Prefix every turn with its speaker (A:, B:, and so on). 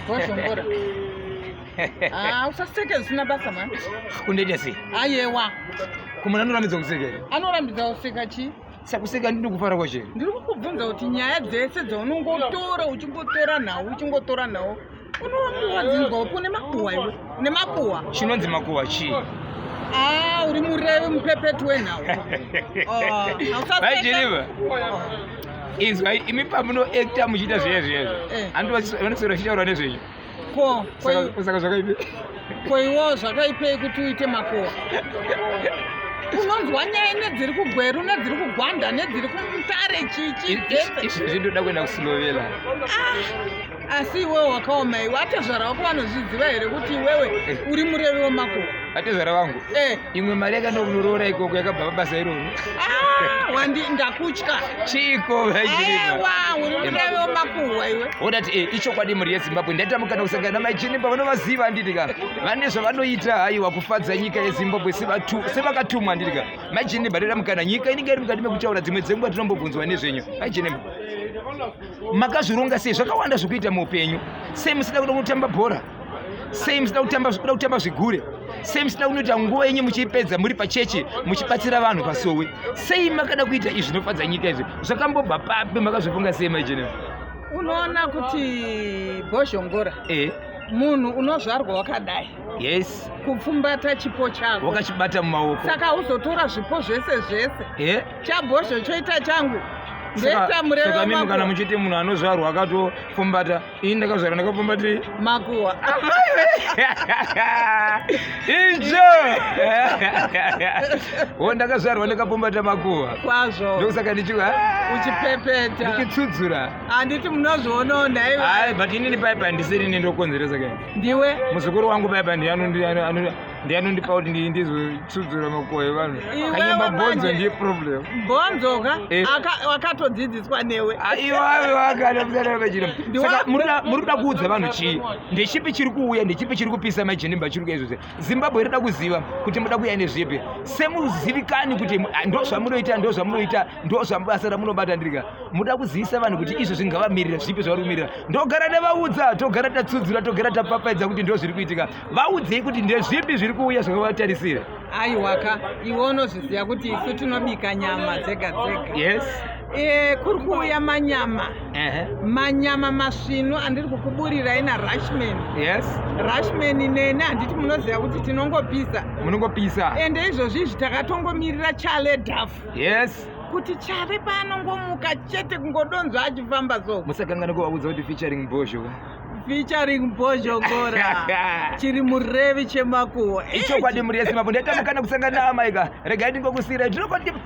A: wazvongora ah, usaseke zvisina basa mani kundoita sei
B: ayewa
A: kumana anorambidza
B: kuseka here anorambidza kuseka
A: chii sakuseka ndiri kufara
B: kwachero ndiri kukubvunza kuti
A: nyaya dzese dzaunongotora uchingotora nhau uchingotora nhau unowamuwadzingwa upi une makuhwa iwe une makuhwa chinonzi makuhwa chii
B: ah,
A: uri murevi mupepeti wenhau
B: ah, hausasekaiiva inzwa imi pamunoekta muchiita zviya zviyazvo eh. andivanoswera chitaura nezvenyu ko saka zvakaipe ko iwo
A: zvakaipei kuti uite makowa unonzwa nyaya nedziri kugweru nedziri kugwanda nedziri kumutare chichi izvi zvindoda
B: kuenda kusilovela ah.
A: asi iwewe wakaoma iwe atezvara wako vanozviziva here kuti iwewe eh. uri murevi wemakuva atezvara vangu
B: eh. imwe mari yakaenda kunoroora ikoko yakabva pabasa iroro ah, wandi ndakutya
A: chiiko vaiwa
B: uri murevi
A: wemakuhwa iwe wodati e eh, ichokwadi
B: mhuri yezimbabwe ndatamukana kusangana namaichinipa vanovaziva handiti ka vane zvavanoita haiwa kufadza nyika yezimbabwe sevakatumwa handiti ka maichinimba ndatamukana nyika inenge iri mukati mekutaura dzimwe dzenguva tinombobvunzwa nezvenyu maichinimba makazvironga sei zvakawanda zvekuita muupenyu sei musida kuda kunotamba bhora sei musida kutamba kuda kutamba zvigure sei musida kunoita nguva yenyu muchiipedza muri pachechi muchibatsira vanhu pasowe sei makada kuita izvi zvinofadza nyika izvi zvakambobva papi makazvifunga sei maijenero unoona
A: kuti bhozhongora e. munhu unozvarwa wakadai yes
B: kupfumbata chipo
A: chako wakachibata mumaoko
B: saka uzotora zvipo
A: zvese zvese eh? chabhozho choita changu ndetamurevamimi
B: kana muchiti munhu anozvarwa akatopfumbata ini ndakazvarwa ndakapfumbati makuwa icho o ndakazvarwa ndakapfumbata makuwa kwazvo ndokusaka
A: ndichi
B: uchipepeta
A: ndichitsudzura
B: handiti munozvionawo
A: nhaiwa but inini paipa handisiri
B: nendokonzeresa kaini ndiwe muzukuru
A: wangu baba
B: ndiye anondipa kuti ndizotsudzura makuwa evanhu kanyemba bhonzo ndiye problem bhonzo ka
A: eh. wakatodzidziswa newe
B: aiwaakaaamuri kuda kuudza vanhu chii ndechipi chiri kuuya ndechipi chiri kupisa majenimba chiri kuya izvozve zimbabwe irida kuziva kuti muda kuya nezvepi semuzivikani kuti ndo zvamunoita ndo zvamunoita ndo zvamubasa ramunobata ndirika muda kuzivisa vanhu kuti izvo zvingavamirira zvipi zvavari kumirira ndogara nevaudza togara tatsudzura togara tapapaidza kuti ndo zviri kuitika vaudzei kuti ndezvipi zviri kuuya zvakavatarisira aiwaka
A: iwe unozviziva kuti isu tinobika nyama dzega dzega yes Eh,
B: kuri kuuya
A: manyama manyama masvinu andiri kukuburirai narashman yes
B: rashman
A: nene handiti munoziva kuti tinongopisa munongopisa
B: ende izvozvi izvi
A: takatongomirira chale daf yes kuti
B: chave
A: paanongomuka chete kungodonzva achifamba so musakanganiko vaudza kuti
B: featuring bozho featuring
A: bhozhongora chiri murevi chemakuwo ichokwadi muriyesimapo
B: ndaita mukana kusangana amaika regai ndingokusiira ndinokoti